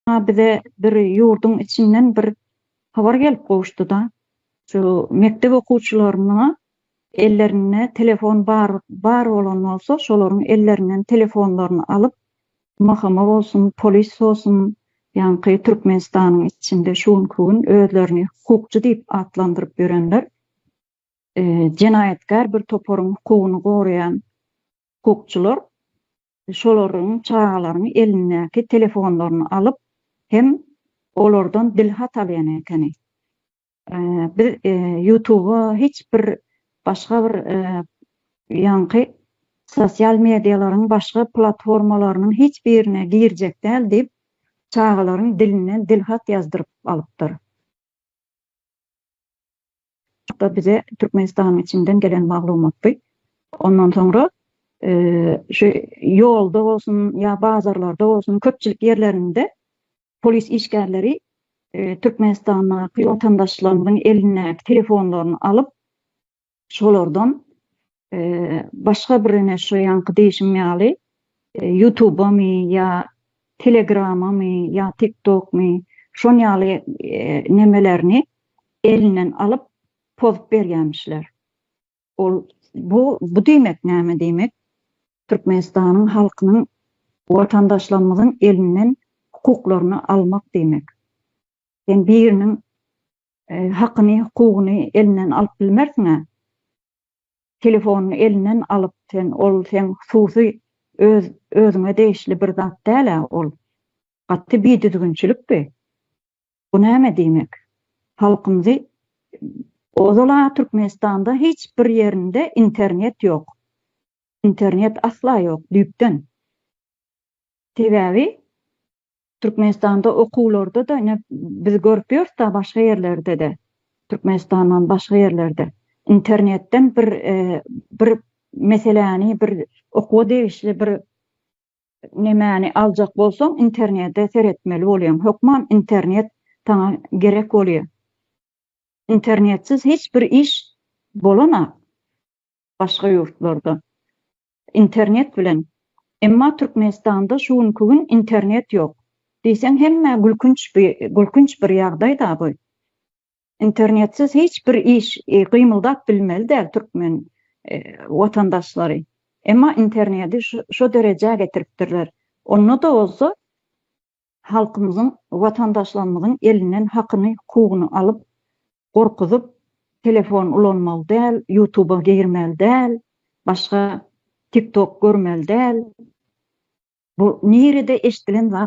Ýa bize bir ýurduň içinden bir habar gelip gowuşdy-da, şu mekdep okuwçylaryna ellerinde telefon bar bar bolan bolsa, şolaryň ellerinden telefonlaryny alyp, MHM bolsun, polis bolsun, ýaňky Türkmenistanyň içinde şu günki gün özlerini hukukçy diýip atlandyryp ýörenler, jenaýatkär bir toparyň hukugyny goraýan hukukçylar şolaryň çagalaryň elindäki telefonlaryny alyp hem olardan dilhat alýan ekeni. Biz ýutuba hiç bir başga bir ýaňky sosial medialaryň başga platformalarynyň hiç birine girjek däl diýip çagalaryň dilinden dilhat ýazdyryp alypdyr. Hatda bize Türkmenistanyň içinden gelen maglumatdy. Ondan soňra şu ýolda bolsun ýa bazarlarda bolsun köpçülik ýerlerinde polis işgärleri Türkmenistandaky watandaşlarymyzyň elindäki telefonlaryny alyp, şolardan başga bir ine şu ýaňky diýşim ýaly ýutubamy ýa telegramamy ýa tiktokmy şon ýaly nemelerini elinden alyp pozup berýämişler ol bu bu diýmek näme diýmek türkmenistanyň halkynyň watandaşlarymyzyň elinden hukuklaryny almak diýmek sen biriniň hakyny hukugyny elinden alyp bilmersiňä telefonyny elinden alyp sen ol seň hususy öz özüňe degişli bir zat dälä ol gaty bidüzgünçilik bi bu näme diýmek halkymzy ozala türkmenistanda hiç bir ýerinde internet ýok internet asla ýok düýpden sebäbi Türkmenistanda okuwlarda-da ine biz görüp ýörüs da başga ýerlerde-de, Türkmenistandan başga ýerlerde internetden bir bir meseläni bir okuwa degişli bir nemäni aljak bolsaň internete seretmeli bolýaň. Hökman internet saňa gerek bolýar. Internetsiz hiç bir iş bolanok. başga ýurtlarda internet bilen emma Türkmenistanda şu günki gün internet ýok diýseň hemmä gülkünç gülkünç bir ýagdaý da bu internetsiz hiç bir iş gymyldap bilmeli däl türkmen watandaşlary emma interneti şo derejä getiripdirler onda da bolsa halkymyzyň, watandaşlarymyzyň elinden hakyny, hukugyny alyp, gorkuzyp, telefon ulanmaly däl, ýutuba girmeli däl, başga tiktok görmeli däl, bu nirede eşdilen zat?